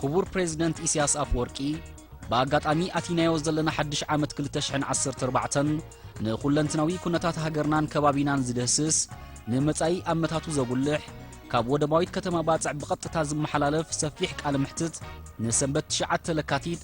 ክቡር ፕሬዚደንት ኢሳያስ ኣፍወርቂ ብኣጋጣሚ ኣቲናዮ ዘለና ሓድሽ ዓመት 214ን ንኹለንትናዊ ኩነታት ሃገርናን ከባቢናን ዝድህስስ ንመጻኢ ኣመታቱ ዘጉልሕ ካብ ወደባዊት ከተማ ባጽዕ ብቐጥታ ዝመሓላለፍ ሰፊሕ ቃለ መሕትት ንሰንበት 9 ለካቲት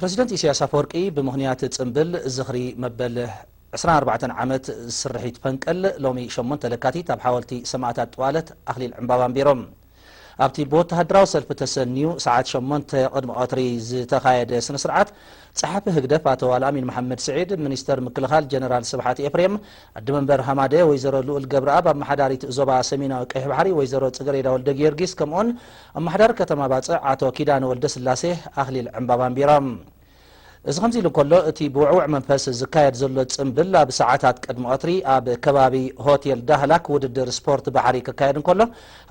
ፕረሲደንት ኢሳያስ ኣፈወርቂ ብምኽንያት ጽምብል ዝኽሪ መበል ዕስራን ኣርባዕተን ዓመት ስርሒት ፈንቅል ሎሚ ሸሞንተ ለካቲት ኣብ ሓወልቲ ሰማእታት ጥዋለት ኣኽሊል ዕምባባ ኣንቢሮም። ኣብቲ ብወተሃደራዊ ሰልፊ ተሰንዩ ሰዓት ሸሞንተ ቅድሚ ቀትሪ ዝተኻየደ ስነስርዓት ጸሓፊ ህግደፍ ኣቶ ኣልኣሚን መሓመድ ስዒድ፣ ሚኒስተር ምክልኻል ጀነራል ስብሓት ኤፍሬም፣ ኣዲ መንበር ሃማደኤ ወይዘሮ ልኡል ገብረኣብ፣ ኣመሓዳሪት ዞባ ሰሜናዊ ቀይሕ ባሕሪ ወይዘሮ ጽገሬዳ ወልደጊዮርጊስ ከምኡ'ውን ኣማሓዳሪ ከተማ ባጽዕ ኣቶ ኪዳነ ወልደስላሴ ኣኽሊል ዕምባባ ኣንቢሮም። እዚ ከምዚ ኢሉ እንከሎ እቲ ብውዕውዕ መንፈስ ዝካየድ ዘሎ ጽምብል ኣብ ሰዓታት ቅድሚ ቐትሪ ኣብ ከባቢ ሆቴል ዳህላክ ውድድር ስፖርት ባሕሪ ክካየድ እንከሎ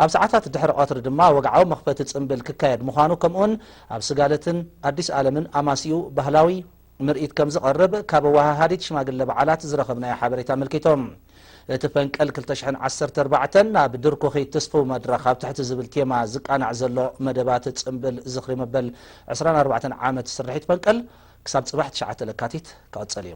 ኣብ ሰዓታት ድሕሪ ቐትሪ ድማ ወግዓዊ መኽፈቲ ጽምብል ክካየድ ምዃኑ ከምኡውን ኣብ ስጋለትን ኣዲስ ኣለምን ኣማስይኡ ባህላዊ ምርኢት ከምዝቐርብ ካብ ኣወሃሃዲት ሽማግለ በዓላት ዝረኸብናዮ ሓበሬታ ኣመልኪቱ። እቲ ፈንቅል ክልተ ሽሕን ዓሰርተ ኣርባዕተን ናብ ድርኩኺት ትስፉው መድረኽ ኣብ ትሕቲ ዝብል ቴማ ዝቃናዕ ዘሎ መደባት ጽምብል ዝኽሪ መበል ዕስራን ኣርባዕተን ዓመት ስርሒት ፈንቅል ክሳብ ጽባሕ ትሽዓተ ለካቲት ክቕጽል እዩ።